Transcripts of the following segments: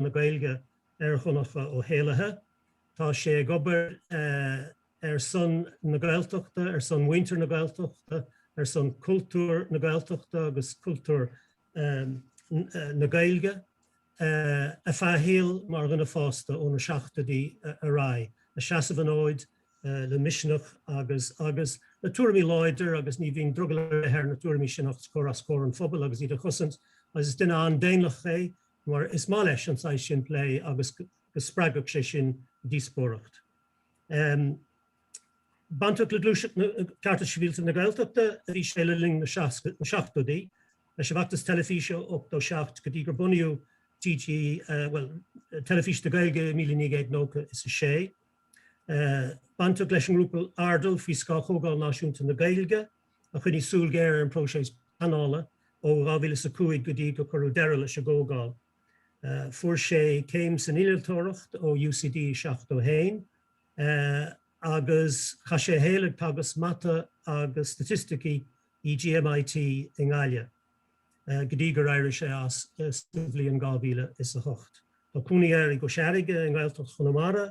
na Gaeilge ar Dhonncha Ó hÉallaithe. Tá sé ag obair ar son na Gaeltachta, ar son mhuintir na Gaeltachta, ar son cultúr na Gaeltachta agus cultúr na Gaeilge ar feadh a shaoil mar dhuine fásta ó na seachtóidí ar aghaidh, ag seasamh an fhóid le misneach agus le tuairimí láidir agus ní bhíonn drogall ar bith air na tuairimí sin a chur os comhair an phobail agus iad a chosaint agus is duine an-daonlathach é. mar is maith leis an saghas sin plé agus go spreagfadh sé sin díospóireacht. Bainteach le Gluaiseacht na Cearta Sibhialta na Gaeltachta a bhí sé le linn na seachtóidí, leis an bhfeachtas teilifíse ó 87 go dtí gur bunaíodh TG, bhuel, Teilifís na Gaeilge i míle naoi gcéad nócha is a sé. Bainteach leis an ngrúpa Airdeall faoi scáth Chomhdháil Náisiúnta na Gaeilge. a choinnigh súil ghéar ar an bpróiseas pleanála ó 2005 go dtí gur cuireadh deireadh leis an gcomhdháil. Fuair sé céim san innealtóireacht ó UCD i 71 agus chaith sé a shaol ag teagasc mata agus staitisticí i GMIT i nGaillimh go dtí gur éirigh sé as sa bhliain 2008. Tá cónaí air i gCois Fharraige i nGaeltacht Chonamara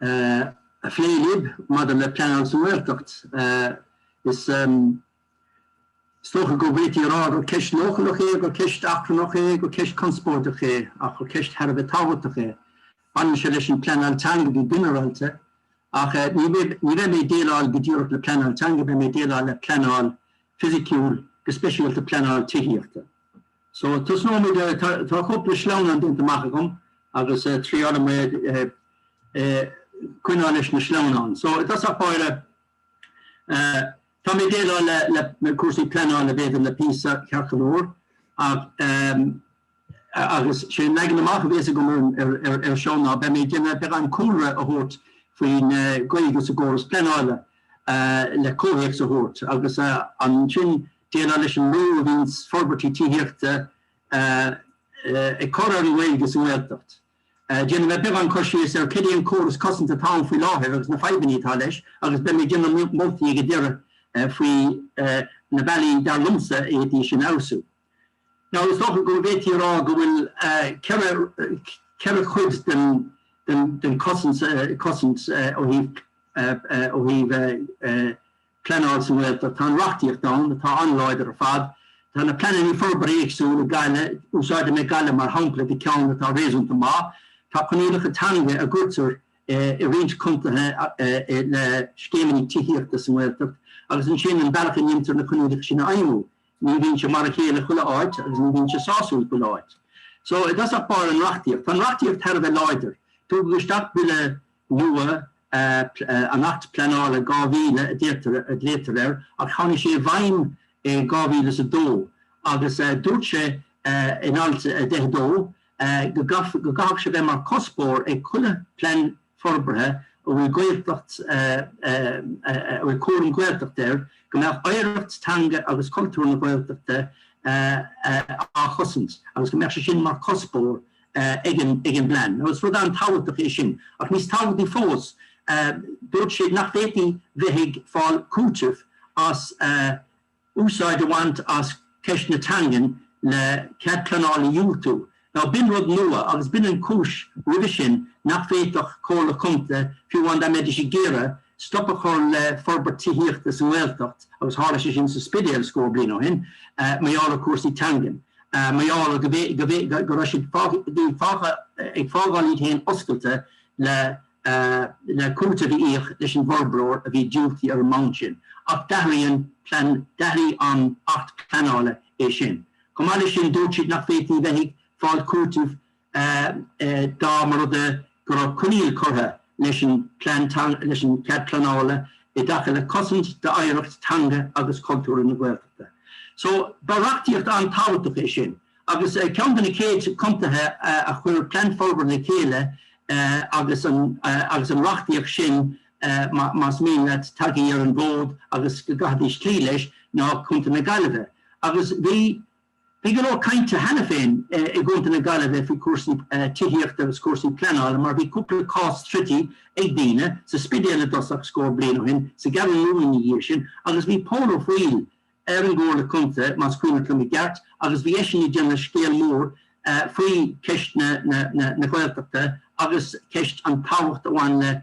a phlé libh maidir le pleanáil sa nGaeltacht. Is dócha go bhféadfaí a rá gur ceist leochaileach é, gur ceist achrannach é, gur ceist conspóideach é, ach gur ceist thar a bheith tábhachtach é. Baineann sé leis an bpleanáil teanga go ginearálta, ach ní bheidh mé ag déileáil go díreach le pleanáil teanga, beidh mé ag déileáil le pleanáil fisiciúil, go speisialta pleanáil tithíochta. So, tosnóimid, tá cúpla sleamhnán déanta amach agam agus triailfidh mé coinneáil leis na sleamhnáin. So, i dtosach báire, tá mé ag déileáil le cúrsaí pleanála b'fhéidir le píosa ceart go leor, agus sé an leagan amach a bhéas agam ar seo ná beidh mé ag déanamh beagán cúlra a thabhairt faoin gcaoi agus an córas pleanála le comhthéacs a thabhairt agus ansin Déileáil leis an mbrú a bhíonn forbairtí tithíochta ag cur ar an nGaeilge sa nGaeltacht. Déanfaidh mé beagán cur síos ar cad é an córas cosanta atá ann faoi láthair agus na fadhbanna atá leis agus beidh mé ag déanamh moltaí ag an deireadh faoi na bealaí, dar liomsa, a bhféadfaí sin a fheabhsú. Now is dócha go bhféadfaí a rá go bhfuil ceithre ceithre chuid den den den cosaint cosaint ó thaobh ó thaobh eh. pleanáil sa nGaeltacht. Tá an reachtaíocht ann atá an-láidir ar fad. Tá na pleananna forbartha éagsúil i nGaillimh, úsáidfidh mé Gaillimh mar shampla de cheann atá réasúnta maith. Tá coinníollacha teanga a gcuirtear i roinnt contaetha le scéimeanna tithíochta sa nGaeltacht agus ansin an bealach a ndíontar na coinníollacha sin a fheidhmiú, ní bhíonn sé mar a chéile chuile áit agus ní bhíonn sé sásúil chuile áit. So, i dtosach báire an reachtaíocht. Tá an reachtaíocht thar a bheith láidir. Tugadh isteach Bille nua, an tAcht Pleanála 2000 a glaoitear air, ach tháinig sé i bhfeidhm i 2002 agus dúirt sé in Alt 10 2 go gcaithfeadh sé bheith mar cuspóir ag chuile phlean forbartha a bhfuil Gaeltacht a bhfuil cúram Gaeltacht air go mbeadh oidhreacht teanga agus cultúr na Gaeltachta á chosaint agus go mbeadh sé sin mar chuspóir ag an bplean, agus rud an-tábhachtach é sin, ach níos tábhachtaí fós, dúirt siad nach bhféadfaí bheith ag fáil cúitimh as úsáid a bhaint as ceist na teangan le cead pleanála a dhiúltú. Now, b'in rud nua, agus b'in an chúis roimhe sin nach bhféadfadh comhairle contae, fiú amháin dá mbeidís ag iarraidh, stop a chur le forbairt tithíochta sa nGaeltacht agus tharla sé sin sa Spidéal scór bliain ó shin, mar gheall ar chúrsaí teangan, mar gheall go raibh siad fágtha, ag fágáil iad féin oscailte le cúiteamh a íoc leis an bhforbróir a bhí diúltaithe ar an mbonn sin. Ach d'athraigh an tAcht Pleanála é sin. Chomh maith leis sin, dúirt siad nach bhféadfaí a bheith ag fáil cúitimh dá mba rud é go raibh coinníoll curtha leis an plean teanga, leis an gcead pleanála i dtaca le cosaint d'oidhreacht teanga agus cultúr na Gaeltachta. So, ba reachtaíocht an-tábhachtach é sin, agus ceann de na chéad contaetha a chuir plean forbartha le chéile agus an, agus an reachtaíocht sin, más mian leat tagtha ar an bhfód agus go gcaithfidís cloí leis, ná Contae na Gaillimhe. Agus bhí. Bhí go leor cainte cheana féin i gContae na Gaillimhe faoi chúrsaí tithíochta agus cúrsaí pleanála mar bhí cúpla cás troidte ag daoine, sa Spidéal i dtosach scór bliain ó shin, sa gCeathrú Rua ina dhiaidh sin agus bhí Pól Ó Foighil ar an gComhairle Contae, más cuimhneach liom i gceart, agus bhí eisean ag déanamh scéal mór faoi cheist na Gaeltachta agus ceist an tábhacht a bhain le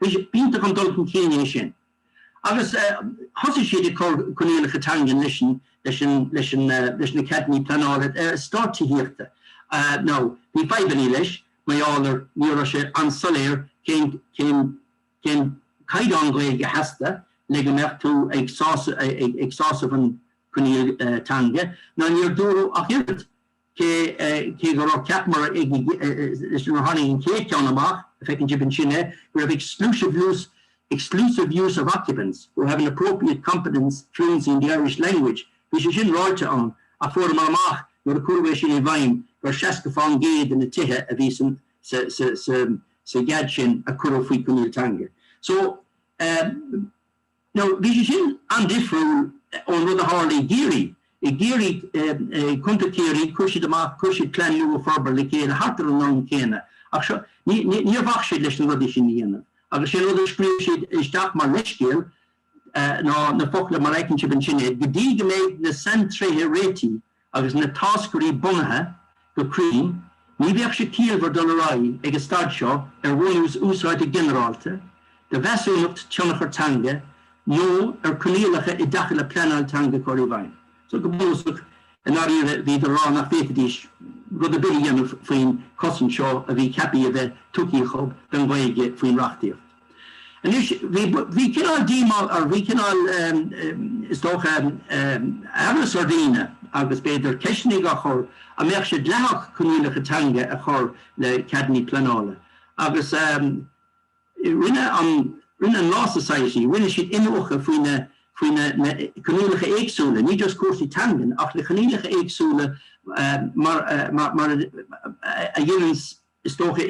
B'iontach an dul chun cinn é sin. Agus thosaigh siad ag cur coinníollacha teangan leis na ceadannaí pleanála eastáit tithíochta. Now, bhí fadhbannaí leis, mar a déarfá, ní raibh sé an-soiléir cén caighdeán Gaeilge a theastaigh le go mbeadh tú ag sásamh an coinníoll teanga, ná níor dúradh ach oiread, cé gur cheapamar nuair a tháinig an chéad cheann amach, feiceann sibh ansin é, go raibh exclusive use exclusive use of occupants who have an appropriate competence, fluency in the Irish language. Bhí sé sin ráite ann ach fuaireamar amach nuair a cuireadh é sin i bhfeidhm gur seasca faoin gcéad de na tithe a bhí san sa sa sa sa gcead sin a cuireadh faoi coinníoll teanga. So, eh, Now, bhí sé sin an-difriúil ón rud a tharla i gCiarraí. I gCiarraí, i gContae Chiarraí, chuir siad amach, chuir siad plean nua forbartha le chéile thart ar an am céanna, ach seo, níor bhac siad leis na rudaí sin a dhéanamh. Agus sé an rud a scríobh siad isteach mar leithscéal ná na focla mar fheiceann sibh ansin é, go dtí go mbeidh na saintréithe réitithe, Agus na táscairí bunaithe go cruinn, ní bheadh sé ciallmhar dul ar aghaidh ag an staid seo ar bhunús úsáide ginearálta de mheasúnacht tionchar teanga nó ar choinníollacha i dtaca le pleanáil teanga a chur i bhfeidhm. So, go bunúsach, i ndáiríre, bhí siad ag rá nach bhféadfaidís rud ar bith a dhéanamh faoin chosaint seo a bhí ceapthaí a bheith tugtha acu don Ghaeilge faoin reachtaíocht. Anois, bhí, bhí cineál díomá, nó bhí cineál, is dócha, amhras ar dhaoine agus b'fhéidir ceisteannaí á chur, an mbeadh sé dleathach coinníollacha teanga a chur le ceadannaí pleanála. Agus rinne an, rinne an Law Society, rinne siad iniúchadh faoi na, faoi na, na coinníollacha éagsúla, ní just cúrsaí teangan ach na coinníollacha éagsúla mar a, mar a, mar a, a dhéananns, is dócha,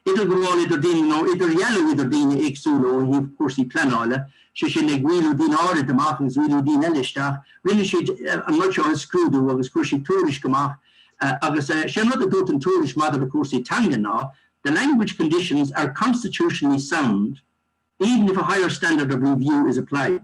idirghabháil idir daoine nó idirdhealú idir daoine éagsúla ó thaobh cúrsaí pleanála, sé sin, ag rialú daoine áirid amach agus rialú daoine eile isteach. Rinne siad an rud seo a scrúdú agus chuir siad tuairisc amach agus sé an rud a dúirt an tuairisc maidir le cúrsaí teanga ná, The language conditions are constitutionally sound, even if a higher standard of review is applied.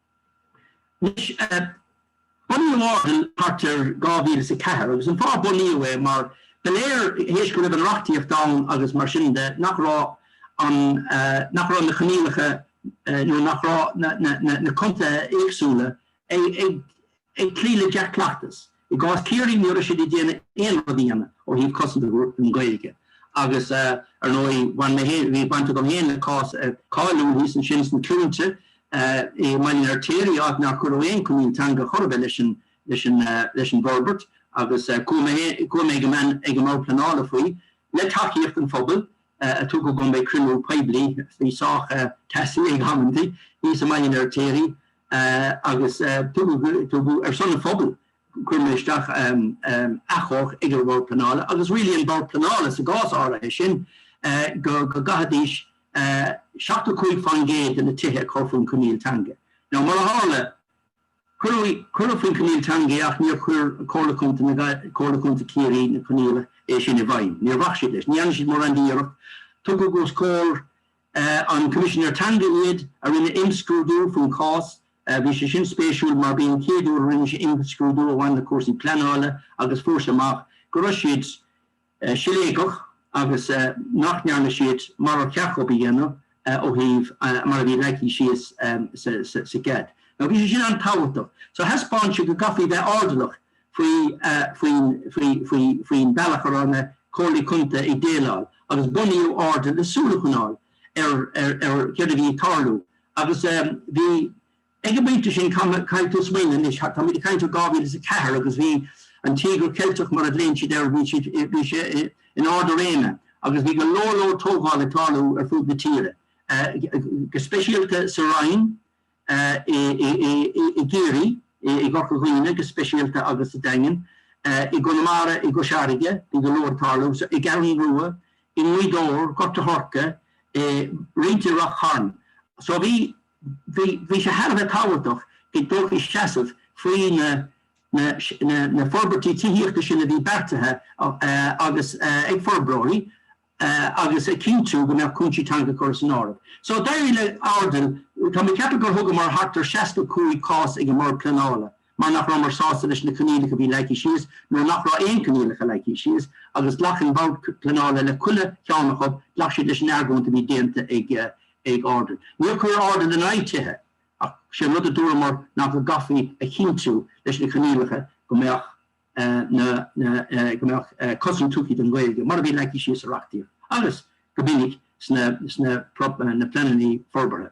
Anois, bunaíodh an fóram i, thart ar, 2004, agus an fáth ar bunaíodh é, mar ba léir, théis go raibh an reachtaíocht ann agus mar sin de, nach raibh an, nach raibh na coinníollacha, nó nach raibh na, na, na, na contaetha éagsúla ag, ag, ag cloí le dea-cleachtas. I gcás Chiarraí ní raibh siad ag déanamh aon rud ann ó thaobh cosaint na Gaeilge agus ar ndóigh bhain mé féin, bhí baint agam féin le cás cáiliúil thíos ansin sna Cluainte i mBaile an Fheirtéaraigh áit nár cuireadh aon choinníoll teanga chor ar bith leis an bhforbairt agus chuaigh mé ag an mBord Pleanála faoi le tacaíocht an phobail. a tugadh go mbeidh cruinniú poiblí faoi sách teasaí ag amantaí thíos i mBaile an Fheirtéaraigh agus tugadh ar son an phobail chuir muid isteach achomharc ag an mBord Pleanála agus rialaigh an Bord Pleanála sa gcás áirithe sin go gcaithfidís 75% de na tithe a chur faoin Coinníoll Teanga. Now mar a tharla, Cuireadh faoin coinníoll teanga í ach níor chuir Comhairle Contae Comhairle Contae Chiarraí na coinníollaí sin i bhfeidhm. Níor bhac siad leis. Ní dhearna siad mórán d'iarracht. Tugadh os comhair an Coimisinéir Teanga iad, a rinne imscrúdú faoin cás. Bhí sé sin spéisiúil mar b'í an chéad uair a rinne sé imscrúdú a bhain le cúrsaí pleanála agus fuair sé amach go raibh siad siléigeach agus nach ndearna siad mar ar cheart dhóibh a dhéanamh ó thaobh mar a bhí leagtha síos sa gcead. Now, bhí sé sin an-tábhachtach. So, thaispeán sé go gcaithfí bheith airdeallach faoin bealach a raibh na Comhairlí Contae ag déileáil agus bunaíodh Airdeall le súil a choinneáil ar céard a bhí ag tarlú agus bhí Ag an bpointe sin, caithfidh tú smaoineamh anois, táimid ag caint ó 2004 agus bhí an Tíogar Ceilteach mar a ghlaonn siad air, bhí sé in ard a réime agus bhí go leor leor tógáil ag tarlú ar fud na tíre, go speisialta sa Rinn, i gCiarraí, i gCorca Dhuibhne go speisialta agus sa Daingean, i gConamara, i gCois Fharraige, bhí go leor ag tarlú, i gCeathrú Rua, i nGaoth Dobhair, Gort a' Choirce, roinnt i Rath Chairn. So bhí. Bhí sé thar a bheith tábhachtach go dtógfaí seasamh faoi na forbairtí tithíochta sin a bhí beartaithe agus ag forbróirí agus a chinntiú go mbeadh cúinsí teanga á gcur san áireamh. So d'éirigh le Airdeall, tá mé ag ceapadh gur thugamar thart ar 65 cás ag an mBord Pleanála. mar nach rabhamar sásta leis na coinníollacha a bhí leagtha síos, nuair nach raibh aon coinníollacha leagtha síos, agus ghlac an Bord Pleanála le chuile cheann acu, ghlac siad leis an argóint a bhí déanta ag Airdeall. Níor chuir Airdeall in aghaidh tithe, ach sé an rud a dúramar ná go gcaithfí a chinntiú leis na coinníollacha go mbeadh na, na, go mbeadh cosaint tugtha don Ghaeilge, mar a bhí leagtha síos sa reachtaíocht, agus go minic sna, sna, na pleananna forbartha.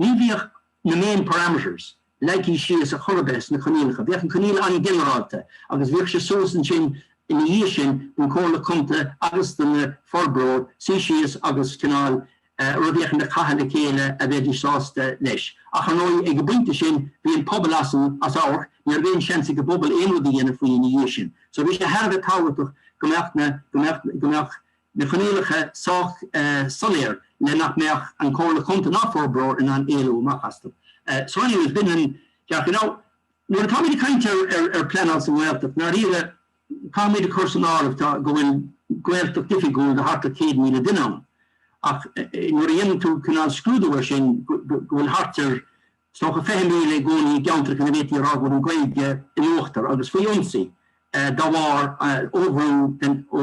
Ní bhíodh na main parameters leagthaí síos a chor ar bith sna coinníollacha. Bhíodh an coinníoll an-ghinearálta agus bhíodh sé suas ansin ina dhiaidh sin don Chomhairle Contae agus do na forbróirí suí síos agus cineál rud eicínt a chaitheamh le chéile a bheidís sásta leis. Ach, ar ndóigh, ag an bpointe sin, bhí an pobal as an, as amharc, ní raibh aon seans ag an bpobal aon rud a dhéanamh faoi ina dhiaidh sin. So, bhí sé thar a bheith tábhachtach go mbeadh na, go mbeadh, go mbeadh, na coinníollacha sách soiléir le nach mbeadh an Chomhairle Chontae ná forbróir in ann éalú amach astu. So anyway, it's been an, ceart, you know, nuair atá muid ag caint ar, ar, ar pleanáil sa nGaeltacht, i ndáiríre, caithfidh muid a chur san áireamh tá, go bhfuil Gaeltacht oifigiúil de thart ar 100,000 duine ann. Ach nuair a dhéanann tú cineál scrúdú air sin, go bhfuil thart ar, is dócha 20,000 i gcónaí i gceantracha ina bhféadfaí a rá go bhfuil an Ghaeilge in uachtar agus faoi ionsaí dá bharr ó bhrú den, ó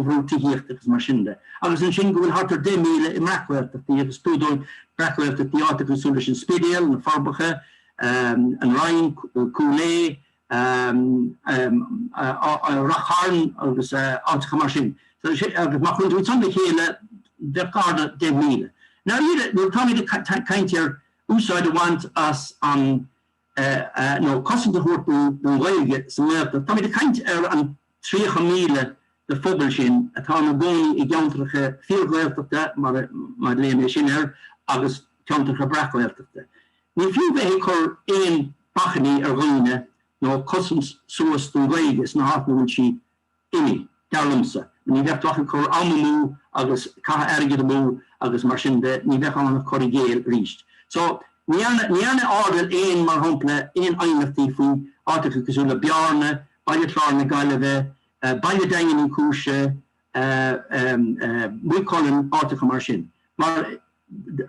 bhrú tithíochta agus mar sin de. Agus ansin go bhfuil thart ar 10,000 i mbreac-Ghaeltachtaí agus tugtar breac-Ghaeltachtaí ar áiteacha cosúil leis an Spidéal, na Forbacha, An Rinn, Cúil Aodha, Ráth Chairn agus áiteacha mar sin. Agus má chuireann tú iad san le chéile bheadh gar do 10,000. Now, nuair atáimid ag caint ar úsáid a bhaint as an, nó cosaint a thabhairt don Ghaeilge sa nGaeltacht. Táimid ag caint ar an 30,000 de phobal sin atá ina gcónaí i gceantracha fíor-Ghaeltachta, má ghlaonn muid sin air, agus ceantracha breac-Ghaeltachta. Ní fiú bheith ag cur aon bhacainní ar dhaoine nó cosaint suas don Ghaeilge sna háiteanna a bhfuil sí imithe, dar liomsa, ní bheadh tú ach ag cur am amú agus caitheamh airgid amú agus mar sin de, ní bheadh ann ach cur i gcéill arís. So, ní dhearna, ní dhearna Audel aon, mar shampla, aon aighneachtaí faoi áiteacha cosúil le Bearna, Baile Chláir na Gaillimhe, baile Daingean Uí Chúis, eh, em, eh, Maigh Cuilinn, áiteacha mar sin. Mar,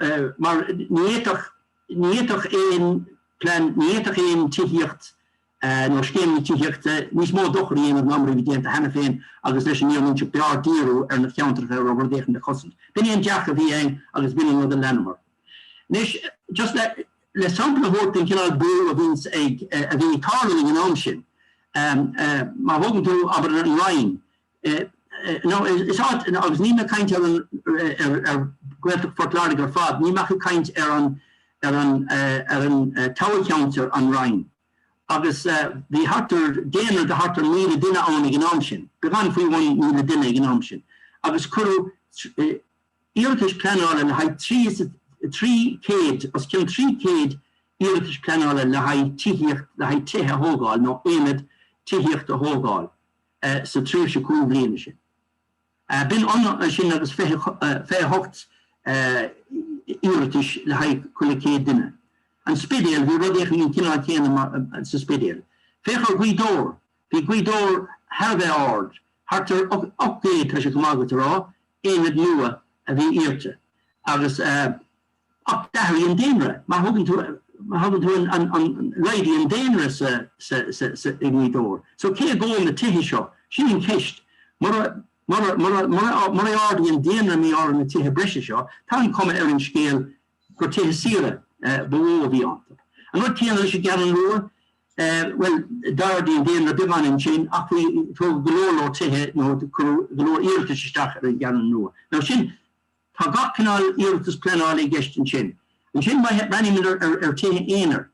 eh, mar ní fhéadfadh, ní fhéadfadh aon plean, ní fhéadfadh aon tithíocht, nó scéimeanna tithíochta, níos mó dochair a dhéanamh ná mar a bhí déanta cheana féin agus leis an fhírinne a inseacht b'fhearr díriú ar na ceantracha a raibh rud éicint le cosaint. B'in é an dearcadh a bhí againn agus b'in an rud a leanamar. Anois, just le, le sampla a thabhairt den chineál brú a bhíonns ag, a bhí ag tarlú ag an am sin, má thógann tú, abair, An Rinn, Nó, is ait, agus níl mé ag caint ar an, ar Ghaeltacht Phort Láirge ar fad, níl mé ach ag caint ar an, ar an, ar an toghcheantar, An Rinn, agus bhí thart ar, daonra de thart ar míle duine ann ag an am sin, beagán faoi bhun míle duine ag an am sin, agus cuireadh iarratais pleanála le haghaidh trí, trí chéad, os cionn trí chéad iarratais pleanála le haghaidh tithíocht, le haghaidh tithe a thógáil nó aonad tithíochta a thógáil sa tréimhse cúig bhliana sin. B'in ionann sin agus fiche hocht iarratais le haghaidh chuile chéad duine. An Spidéal, bhí rud éicint an cineál céanna sa Spidéal. Féach ar Ghaoth Dobhair, bhí Gaoth Dobhair thar a bheith ard, thart ar ocht gcéad, tá sé chomh maith agat a rá, aonad nua a bhí iarrta agus, Ach d'athraigh an daonra. Má thógann tú, má thógann tú an, an, an, laghdaigh an daonra sa, sa, sa, sa, i nGaoth Dobhair. So cé dhóibh na tithe seo? Sin an cheist. Mura, mura, mura, mura, murar ardaigh an daonra a mbíodh orthu na tithe breise seo, tá an chuma ar an scéal gur tithe saoire ba mhó a bhí iontu. An rud céanna leis an gCeathrú Rua, eh, bhuel, d'ardaigh an daonra beagán ansin ach bhí, tógadh go leor leor tithe nó cuireadh go leor iarratais isteach ar an gCeathrú Rua. Now sin, Tá gach cineál iarratas pleanála i gceist ansin. Ansin breathnaímid ar tithe aonair.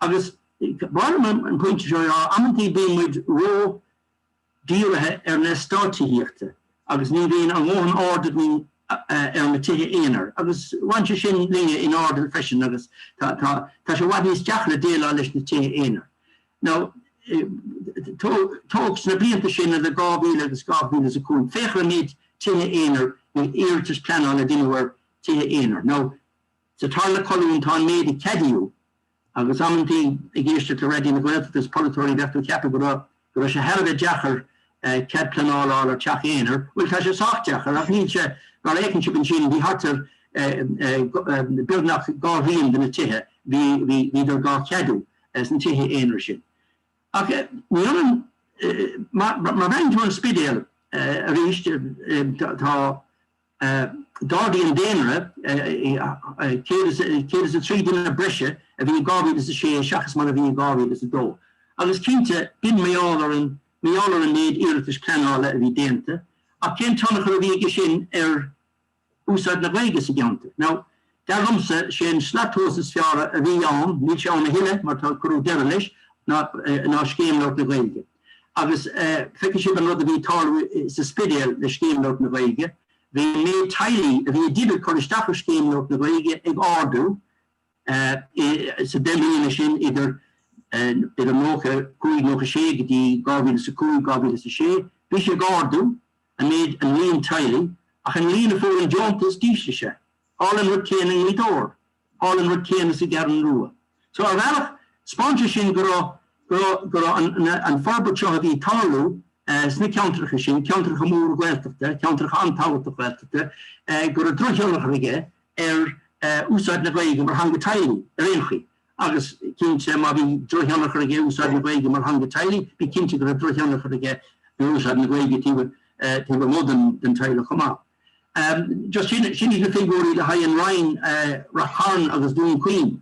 Agus b'áil liom an pointe seo a rá, amantaí bíonn muid ródhírithe ar na eastáit tithíochta agus ní bhíonn a dhóthain aird againn ar na tithe aonair. Agus bhain sé sin linne in Airdeall freisin agus tá sé i bhfad níos deacra déileáil leis na tithe aonair. Now, tóg sna blianta sin idir 2000 agus 2005, féach ar an méid tithe aonair, nó iarratais pleanála a deineadh ar tithe aonair. Now, sa tarna colún tá an méid a ceadaíodh, agus amantaí ag éisteacht le Raidió na Gaeltachta is polaiteoirí, bheadh tú ag ceapadh go raibh, go raibh sé thar a bheith deacair cead pleanála a fháil ar theach aonair. Bhuel, tá sé sách deacair, ach níl sé, mar a fheiceann sibh ansin, bhí thart ar beagnach dhá thrian de na tithe, bhí, bhí, bhíodar dhá cheadú. as na tithe aonair sin. Ach ní ionann, má bhreathnaíonn tú ar an Spidéal arís, tá, d'ardaigh an daonra, 103 duine breise a bhí in 2006 seachas mar a bhí in 2002, agus cinnte, b'in méadú ar an, méadú ar an méid iarratais pleanála a bhí déanta, ach cén tionchar a bhí aige sin ar. úsáid na Gaeilge sa gceantar. Now, dar liomsa, is é an slat tomhais is fearr a bhí ann, níl sé ann a thuilleadh mar tá cuireadh deireadh leis, ná, ná Scéim Labhairt na Gaeilge. Agus feicfidh sibh an rud a bhí ag tarlú sa Spidéal le Scéim Labhairt na Gaeilge, bhí an méid teaghlaigh a bhí ag déanamh, ag cur isteach ar Scéim Labhairt na Gaeilge ag ardú, Sa deich mbliana sin idir idir nócha cúig nócha sé go dtí dhá mhíle is a cúig dhá mhíle is a sé, bhí sé ag ardú, an méid an líon teaghlaigh, ach an líon a fuair an deontas d'ísligh sé. Tharla an rud céanna i nGaoth Dobhair. Tharla an rud céanna sa gCeathrú Rua. So ar bhealach, 'speáin sé sin go raibh go raibh go raibh an an fhorbairt seo a bhí ag tarlú sna ceantracha sin, ceantracha móra Gaeltachta, ceantracha an-tábhachtach Gaeltachta, go raibh drochthionchar aige ar úsáid na Gaeilge mar theanga teaghlaigh ar aon chaoi. Agus cinnte, má bhí drochthionchar aige úsáid na Gaeilge mar theanga teaghlaigh, bí cinnte go raibh drochthionchar aige ar úsáid na Gaeilge taobh amuigh den teaghlach chomh maith. Just sin iad na figiúirí le haghaidh an Rinn, Ráth Chairn agus Dún Chaoin.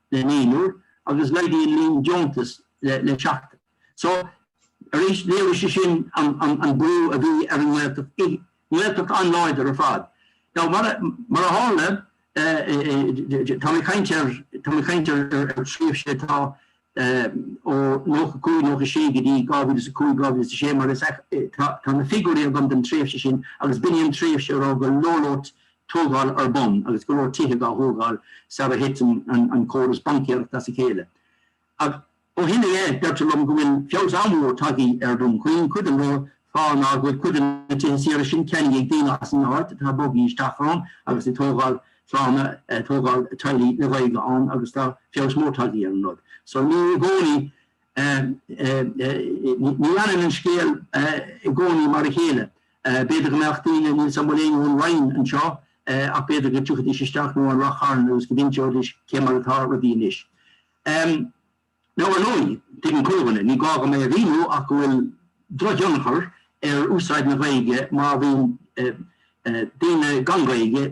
le naonúr agus laghdaigh an líon deontas le seachtar. So, arís, léirigh sé sin an brú a bhí ar an nGaeltacht, nGaeltacht an-láidir ar fad. Now, mar a tharla, tá mé ag caint ar, tá mé ag caint ar tréimhse atá ó nócha cúig, nócha sé go dtí dhá mhíle is a cúig, dhá mhíle is a sé mar is, tá na figiúirí agam don tréimhse sin agus b'in í an tréimhse a raibh go leor, leor tógáil ar bun agus go leor tithe dá thógáil sara thit an córas baincéireachta as a chéile. Ach ó shin i leith, deirtear liom go bhfuil feabhas an-mhór tagthaí ar Dhún Chaoin, cuid den fháth ná go bhfuil cuid de na tithe saoire sin ceannaithe ag daoine as an áit atá bogthaí isteach ann agus ag tógáil clanna, ag tógáil teaghlaigh le Gaeilge ann agus tá feabhas mór tagthaí ar an rud. So ní i gcónaí, ní fhanann an scéal i gcónaí mar a chéile. B'fhéidir go mbeadh daoine níl a fhios agam an bhfuil éinne ón Rinn anseo ach b'fhéidir go dtiocfaidís isteach nó ón Ráth Chairn agus go n-inseoidís cé mar atá rudaí anois. Now ar ndóigh, tuigeann chuile dhuine, ní gá dhom é a mhíniú ach go bhfuil drochthionchar ar úsáid na Gaeilge má bhíonn daoine gan Ghaeilge,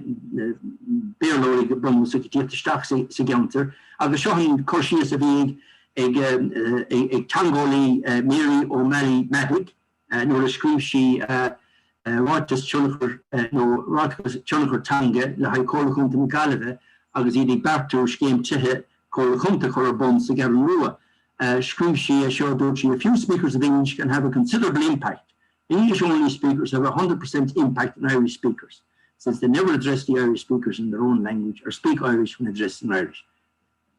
Béarlóirí go bunúsach, ag tíocht isteach sa gceantar agus seo an cur síos a bhí ag teangeolaí Mary O'Malley-Madec, nuair a scríobh sí ráiteas tionchair nó ráiteas tionchar teanga le haghaidh Chomhairle Chontae na Gaillimhe agus iad ag beartú scéim tithe Comhairle Chontae a chur ar bun sa gCeathrú Rua. Scríobh sí é seo, dúirt sí, A few speakers of English can have a considerable impact. English-only speakers have a hundred percent impact on Irish speakers, since they never address the Irish speakers in their own language or speak Irish when addressed in Irish.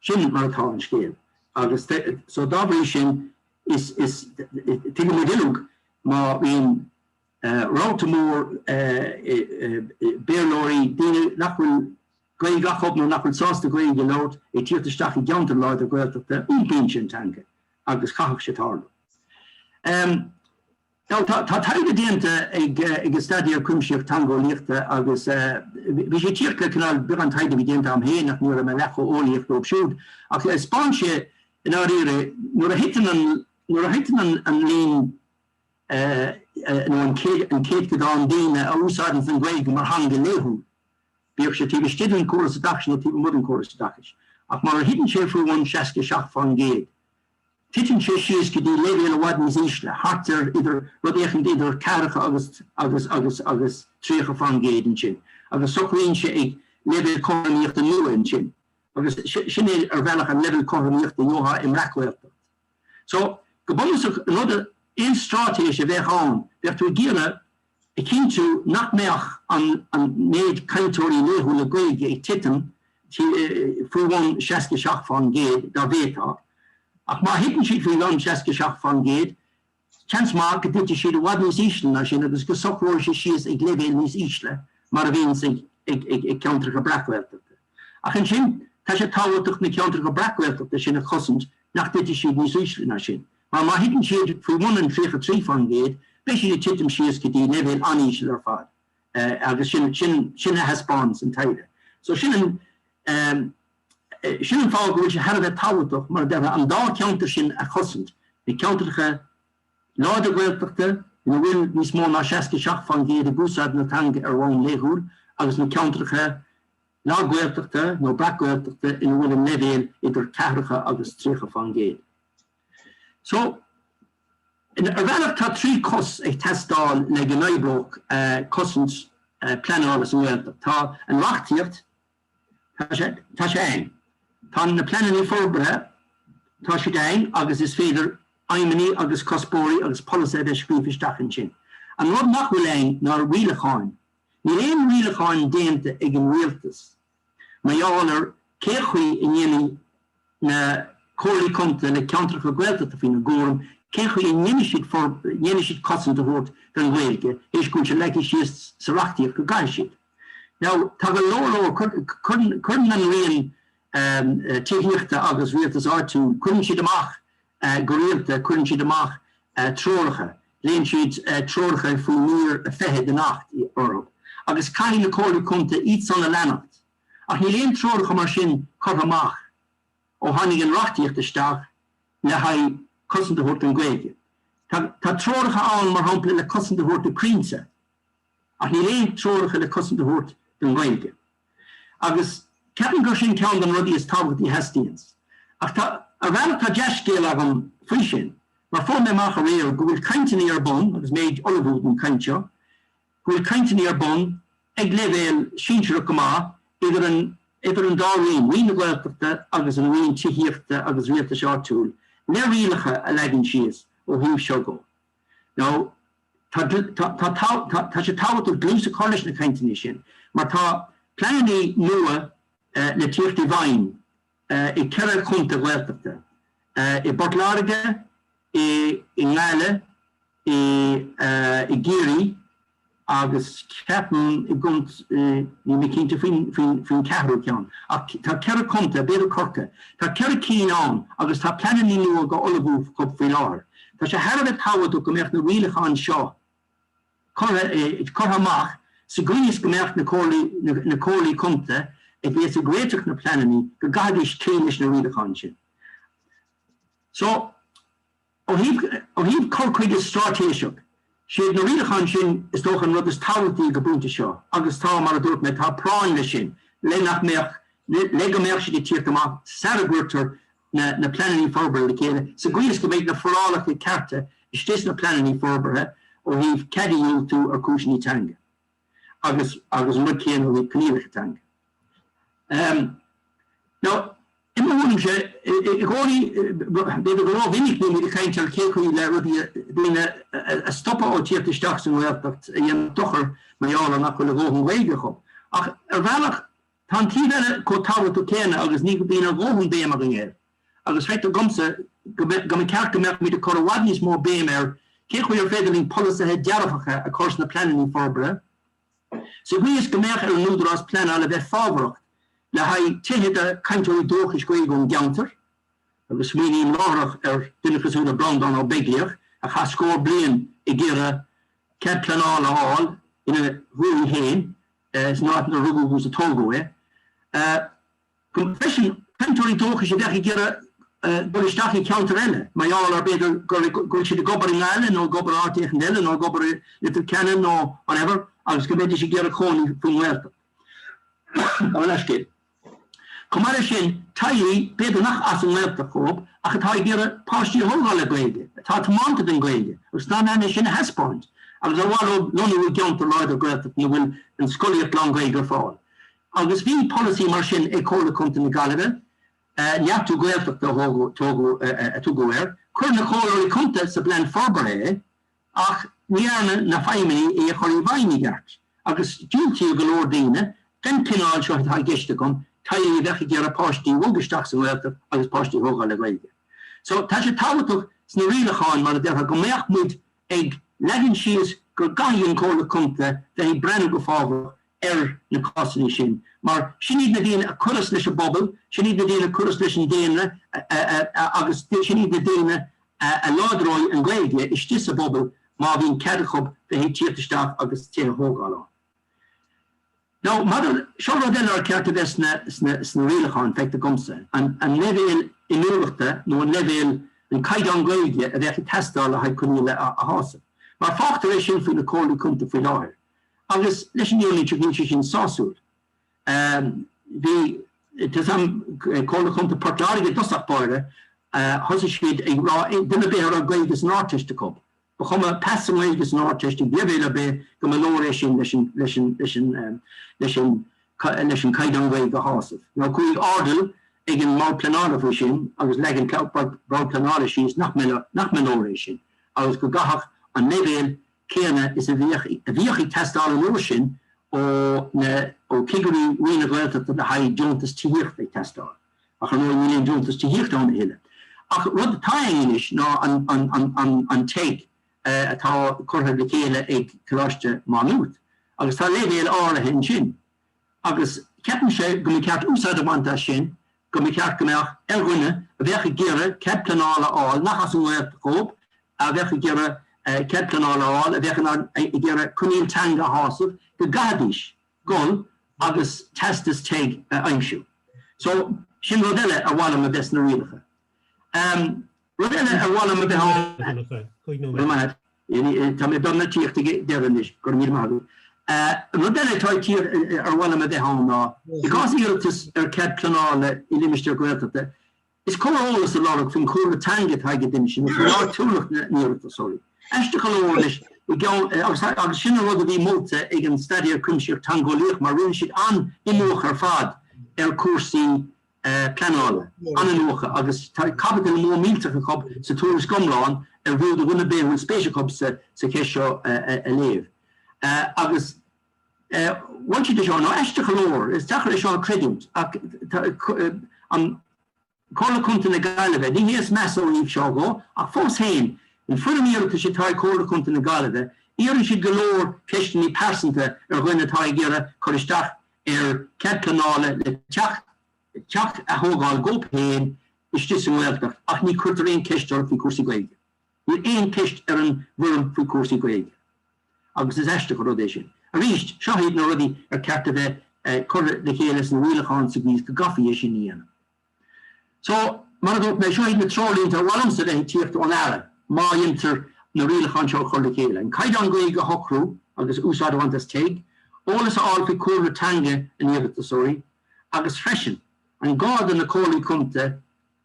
Sin mar atá an scéal agus so dá bhrí sin is tuigeann muid uilig má bhíonn rabharta mór Béarlóirí, daoine nach bhfuil Gaeilge acu nó nach bhfuil sásta Gaeilge a labhairt, ag tíocht isteach i gceantar láidir Gaeltachta, iompaíonn sé an teanga agus chaithfeadh sé tarlú. Tá taighde déanta ag ag an Staidéar Cuimsitheach Teangeolaíochta agus bhí sé ag tíocht le cineál beagán taighde a bhí déanta agam féin ach ní raibh mé leath chomh eolaíoch leo siúd ach thaispeáin sé i ndáiríre nuair a thiteann an nuair a thiteann an an líon nó an céad an céadchodán daoine a úsáideann an Ghaeilge mar theanga laethúil bíodh sé taobh istigh den córas oideachais nó taobh amuigh den córas oideachais ach má thiteann sé faoi bhun 67% Titeann sé síos go dtí leibhéal i bhfad níos ísle, thart ar idir rud éicint idir 40 agus agus agus agus 30 faoin gcéad ansin, agus socraíonn sé ag leibhéal cothromaíochta nua ansin, agus sin é ar bhealach an leibhéal cothromaíochta a gheofá i mbreacghaeltacht. So, go bunúsach, an rud a, aon stráitéis a bheadh ann, bheadh tú ag iarraidh a chinntiú nach mbeadh an méid cainteoirí laethúla Gaeilge ag titim faoi bhun 67 faoin gcéad dá bhféadfá, ach má thiteann siad faoi bhun 67 faoin gcéad, seans maith go dtitfidh siad i bhfad níos ísle ná sin agus go socróidh sé síos ag leibhéal níos ísle, mar a bhíonns ag ceantracha breac-Ghaeltachta. Ach ansin, tá sé tábhachtach na ceantracha breac-Ghaeltachta sin a chosaint nach dtitfidh siad níos ísle ná sin. Mar má thiteann siad faoi bhun an 33%, beidh siad ag titim síos go dtí leibhéal an-íseal ar fad agus sin, sin, sin a thaispeánas an taighde. So sin an, sin an fáth go bhfuil sé thar a bheith tábhachtach, mar a déarfá, an dá cheantar sin a chosaint, na ceantracha láidre Gaeltachta ina bhfuil níos mó ná 67% ag úsáid na teanga ar bhonn laethúil agus na ceantracha lag-Ghaeltachta nó breac-Ghaeltachta ina bhfuil an leibhéal idir ceathracha agus 30%. So, ar bhealach tá trí cos ag teastáil le go n-oibreodh cosaint pleanála sa nGaeltacht. Tá an reachtaíocht, tá sé ann. Tá na pleananna forbartha, tá siad ann agus is féidir aidhmeanna agus cuspóirí agus polasaithe a bheith scríofa isteach ansin. An rud nach bhfuil ann ná rialacháin. Níl aon rialacháin déanta ag an rialtas Mar gheall ar cén chaoi a ndéanfaidh na comhairlí contae le ceantracha Gaeltachta faoina gcúram cén chaoi a ndéanfaidh siad cosaint a thabhairt don Ghaeilge théis go bhfuil sé leagtha síos sa reachtaíocht go gcaithfidh siad. Now, tá go leor leor, cuireann an Roinn Tithíochta agus Rialtais Áitiúil, cuireann siad amach go rialta, cuireann siad amach treoracha, Glaonn siad treoracha faoi mír a fiche den Acht orthu agus caithfidh na Comhairlí Contae iadsan a leanacht, ach níl aon treoracha mar sin curtha amach ó tháinig an reachtaíocht isteach le haghaidh cosaint a thabhairt don Ghaeilge. Tá, tá treoracha ann, mar shampla, le cosaint a thabhairt do chrainnte, ach níl aon treoracha le cosaint a thabhairt don Ghaeilge. Agus ceapaim gur sin ceann de na rudaí is tábhachtaí a theastaíonns. Ach tá, ar bhealach, tá dea-scéal agam faoi sin, mar fuair mé amach aréir go bhfuil cainteanna ar bun, agus mé ag ullmhú don chaint seo, go bhfuil cainteanna ar bun, ag leibhéal sinsearach go maith, idir an, idir an dá Roinn, Roinn na Gaeltachta agus an Roinn Tithíochta agus Rialtais Áitiúil, le rialacha a leagan síos ó thaobh seo dó. Now, Tá sé tábhachtach dlús a chur leis na cainteanna sin mar tá pleananna nua le tíocht i bhfeidhm i gceithre chontae Ghaeltachta, i bPort Láirge, i nGaillimh, i gCiarraí agus ceapaim i gCont, níl mé cinnte faoin ceathrú ceann ach tá ceithre chontae, b'fhéidir Corcaigh, tá ceithre cinn ann agus tá pleananna nua dhá ullmhú faoi láthair. Tá sé thar a bheith tábhachtach go mbeadh na rialacháin seo curtha amach sa gcaoi is go mbeadh na comhairlí contae a bheas ag réiteach na bpleananna, go gcaithfidís cloí leis na rialacháin sin. So, ó thaobh cur chuige straitéiseach, siad na rialacháin sin is dócha an rud is tábhachtaí ag an bpointe seo agus tá, mar a dúirt mé, tá práinn leis sin le nach mbeadh, le go mbeadh siad ag tíocht amach sara gcuirtear na na pleananna forbartha le chéile, sa gcaoi is go mbeidh na forálacha cearta istigh sna pleananna forbartha ó thaobh cead a dhiúltú ar chúiseanna teanga agus agus an rud céanna ó thaobh coinníollacha teanga. Um, now, I mo thuairimse, i gcónaí, b'fhéidir go ró-mhinic bímid ag caint ar cé chaoi le b'fhéidir daoine a stopadh ó tíocht isteach sa nGaeltacht a dhéanamh dochar mar gheall ar nach bhfuil a dhóthain Gaeilge acu. Ach ar bhealach Tá an taobh eile chomh tábhachtach céanna agus ní bhíonn a dhóthain béim againn air, agus feictear domsa go mba cheart go mbeadh muid ag cur i bhfad níos mó béime ar cén chaoi ar féidir linn polasaithe dearfacha a chur sna pleananna forbartha sa gcaoi is go mbeadh ar an Údarás Pleanála bheith fábharach le haghaidh tithe do chainteoirí dúchais Gaeilge ón gceantar, agus smaoiním láithreach ar dhuine cosúil le Breandán Ó Beaglaoich a chaith scór bliain ag iarraidh cead pleanála a fháil ina dhúthaigh fhéin. san áit inar rugadh agus a tógadh é. Freisin, cainteoirí dúchais a bheadh ag iarraidh dul isteach i gceantar eile mar gheall ar, b'fhéidir, go bhfuil siad ag obair i nGaillimh nó ag obair áit éicint eile nó ag obair i Leitir Ceanainn nó whatever agus go mbeidís ag iarraidh cónaí faoin nGaeltacht. An leathscéal. Chomh maith leis sin, teaghlaigh, b'fhéidir nach as an nGaeltacht dhóibh, ach atá ag iarraidh páistí a thógáil le Gaeilge, atá tiománta don Ghaeilge agus in ann é sin a thaispeáint, agus ar mhaith leo lonnú i gceantar láidir Gaeltachta ina bhfuil an scolaíocht lán-Ghaeilge ar fáil. Agus bhí polasaí mar sin ag Comhairle Contae na Gaillimhe, Neartú Gaeltachta a tugadh air. Chuir na Comhairleoirí Contae sa bplean forbartha é. Ach ní dhearna na feidhmeannaigh é a chur i bhfeidhm i gceart, agus diúltaíodh go leor daoine, den chineál seo atá i gceist agam, teaghlaigh a bheadh ag iarraidh páistí, bogadh isteach sa nGaeltacht agus páistí a thógáil le Gaeilge. So, tá sé tábhachtach sna rialacháin, mar a déarfá, go mbeadh muid ag leagan síos go gcaithfidh an Comhairle Contae bheith ag breathnú go fábharach ar na cásanna sin, mar sin iad na daoine a chuireas leis an bpobal, sin iad na daoine a chuireas leis an daonra agus sin iad na daoine a láidreoidh an Ghaeilge istigh sa bpobal má bhíonn cead acu bheith ag tíocht isteach agus tithe a thógáil ann. Now, maidir, seo rud eile ar cheart a bheith sna rialacháin, feictear dhomsa, an leibhéal inniúlachta nó an leibhéal, an caighdeán Gaeilge a bheadh ag teastáil le haghaidh coinníoll a shásamh. Mar fágtar é sin faoi na Comhairlí Contae faoi láthair. Agus leis an Eolaí Tríd, níl sé sin sásúil. Bhí, tá a fhios agam, Comhairle Contae Port Láirge i dtosach báire, thosaigh siad ag rá duine ar bith a raibh Gaeilge san Ardteist acu, ba chuma pas sa nGaeilge san Ardteist ag leibhéal ar bith, go mba leor é sin leis an, leis an, leis an, leis an, leis an gcaighdeán Gaeilge a shásamh. Now, chuaigh Airdeall ag an mbord pleanála faoi sin agus leag an bord pleanála síos nach mba, nach mba leor é sin agus go gcaithfeadh an leibhéal céanna is a bhíodh a bhíodh ag teastáil an uair sin ó na ó chigirí Roinn na Gaeltachta le haghaidh deontas tithíochta ag teastáil. Ach, ar ndóigh, níl aon deontas tithíochta ann a thuilleadh. Ach rud atá ann anois ná an an an an an TEG atá curtha le chéile ag Coláiste Má Nuad. Agus tá leibhéal áirithe ansin. Agus ceapaimse go mba cheart úsáid a bhaint as sin, go mba cheart go mbeadh ar dhuine a bheadh ag iarraidh cead pleanála a fháil, nach as an nGaeltacht dhóib, a bheadh ag iarraidh cead pleanála a fháil, a bheadh in ann ag iarraidh coinníoll teanga a shásamh, go gcaithfidís dhul agus teastas TEG a aimsiú. So, sin rud eile ar mhaith liom a bheith sna rialacha. Rud eile ar mhaith liom a bheith ann chomh maith, tá mé ag dul ag tíocht ag deireadh anois, go raibh míle maith agat. Rud eile atá ag tíocht ar mhaith liom a bheith ann ná, i gcás iarratas ar chead pleanála i limistéar Gaeltachta, is cóir eolas a lorg faoin chúlra teanga atá ag an duine sin, faoi áitiúlacht na n-iarratasóirí. Aisteach go leor anois, i gceann, agus sin an rud a bhí molta ag an Staidéar Cuimsitheach Teangeolaíoch mar rinne siad an-iniúchadh ar fad ar chúrsaí pleanála, an-iniúchadh, agus tá caibidil mhór millteach acu sa tuairisc iomlán arbh fhiú do dhuine ar bith a bhfuil spéis acu sa cheist seo a léamh. Agus mhol siad é seo, now, aisteach go leor, is deacair é seo a chreidiúint, ach tá an Comhairle Contae na Gaillimhe, ní hé is measa ó thaobh seo dhó, ach fós féin, an fhoirm iarratais atá ag Comhairle Contae na Gaillimhe, iarrann siad go leor ceisteanna pearsanta ar dhuine atá ag iarraidh cur isteach ar cead pleanála le teach teach a thógáil dhóib fhéin istigh sa nGaeltacht ach ní cuirtear aon ceist orthu faoi chúrsaí Gaeilge. Níl aon ceist ar an bhfoirm faoi chúrsaí Gaeilge agus is aisteach an rud é sin. Arís, seo iad na rudaí ar ceart a bheith curtha le chéile sna rialacháin sa gcaoi is go gcaithfí é sin a dhéanamh. So, mar a dúirt mé, seo iad na treoirlínte ar mhaith liomsa a bheith ag tíocht ón Aire, má dhéantar na rialacháin seo a chur le chéile. An caighdeán Gaeilge a shocrú agus úsáid a bhaint as TEG, eolas a fháil faoi chúlra teanga na n-iarratasóirí, agus freisin, an gá do na comhairlí contae,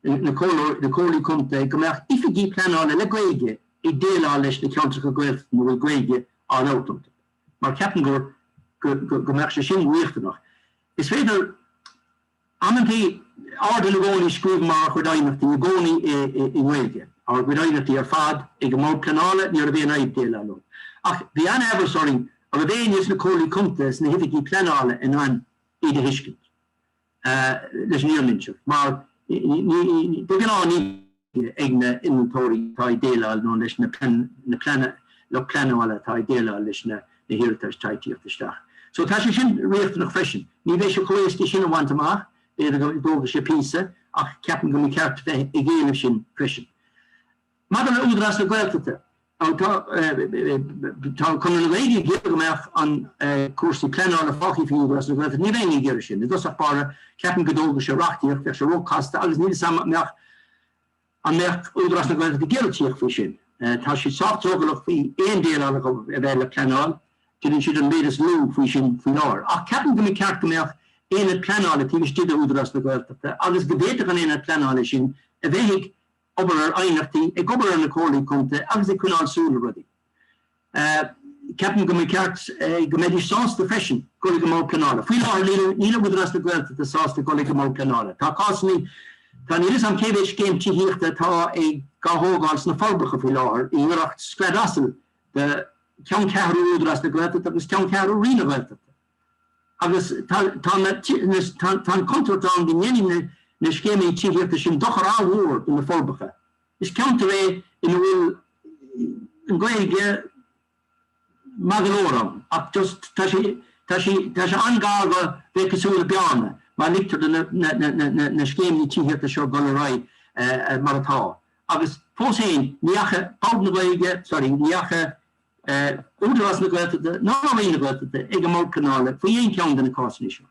na comhairleoirí, na comhairlí contae, go mbeadh oifigigh pleanála le Gaeilge ag déileáil leis na ceantracha Gaeltachta ina bhfuil Gaeilge á labhairt iontu, mar ceapaim gur, go, go, go mbeadh sé sin riachtanach. Is féidir. Amantaí, ar ndóigh i gcónaí scríobh muid ár gcuid aighneachtaí i gcónaí i nGaeilge, ár gcuid aighneachtaí ar fad ag an mBord Pleanála, ní raibh aon fhadhb déileáil ann. Ach bhí an-aimhreas orainn a raibh éinne sna Comhairlí Contae is na hOifigí Pleanála in ann iad a thuiscint leis an fhírinne a inseacht, mar de ghnáth ní. ag na innealtóirí atá ag déileáil, nó leis na lucht pleanála atá ag déileáil leis na hiarratais ag tíocht isteach. So tá sé sin riachtanach freisin. Ní bheidh sé chomh éasca sin a bhaint amach, b'fhéidir go dtógfaidh sé píosa, ach ceapaim go mba cheart bheith ag éileamh sin freisin. Maidir le hÚdarás na Gaeltachta, Tá Conradh na Gaeilge ag iarraidh go mbeadh na cúrsaí pleanála fágthaí faoi Údarás na Gaeltachta. Ní bheinn ag iarraidh sin. I dtosach báire, ceapaim go dtógfadh sé reachtaíocht, bheadh sé róchasta agus níl 'fhios a'm an mbeadh an mbeadh Údarás na Gaeltachta ag iarraidh tíocht faoi sin. Tá siad sách drogallach faoi aon déileáil a bheith le pleanáil, déanann siad an méid is lú faoi sin faoi láthair. Ach ceapaim go mba cheart go mbeadh aonad pleanála taobh istigh de Údarás na Gaeltachta agus go bhféadfadh an aonad pleanála sin a bheith ag obair ar aighneachtaí, ag obair ar na comhairlí contae agus ag coinneáil súil le rudaí. Ceapaim go mba cheart go mbeidís sásta freisin dul ag an mBord Pleanála. Faoi láthair níl Údarás na Gaeltachta sásta dul ag an mBord Pleanála. Tá cásannaí, tá, níl 'fhios a'm cé mhéid scéim tithíochta atá ag, á thógáil sna Forbacha faoi láthair, i ngiorracht scread asail de cheanncheathrú Údarás na Gaeltachta agus ceanncheathrú Roinn na Gaeltachta. Agus tá an chontúirt ann go ndéanfaidh na scéimeanna tithíochta sin dochar an-mhór do na Forbacha. Is ceantar é ina bhfuil an Ghaeilge maith go leor ann ach just tá sé tá sé tá sé an-ghar do bheith cosúil le Bearna má ligtear do na scéimeanna tithíochta seo dul ar aghaidh mar atá. Agus fós féin, ní dheachaigh Bord na Gaeilge, sorry, ní dheachaigh Údarás na Gaeltachta ná Roinn na Gaeltachta ag an mBord Pleanála faoi aon cheann de na cásanna seo.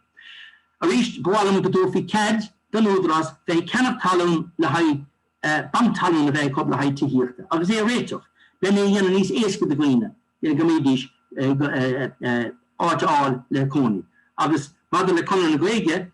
Arís, ba mhaith liom go dtabharfaí cead don Údarás bheith ag ceannach talún le haghaidh, banc talún a bheith acu le haghaidh tithíochta agus é a réiteach, lena dhéanamh níos éasca do dhaoine go mbeidís áit a fháil le cónaí. Agus maidir le Conradh na Gaeilge,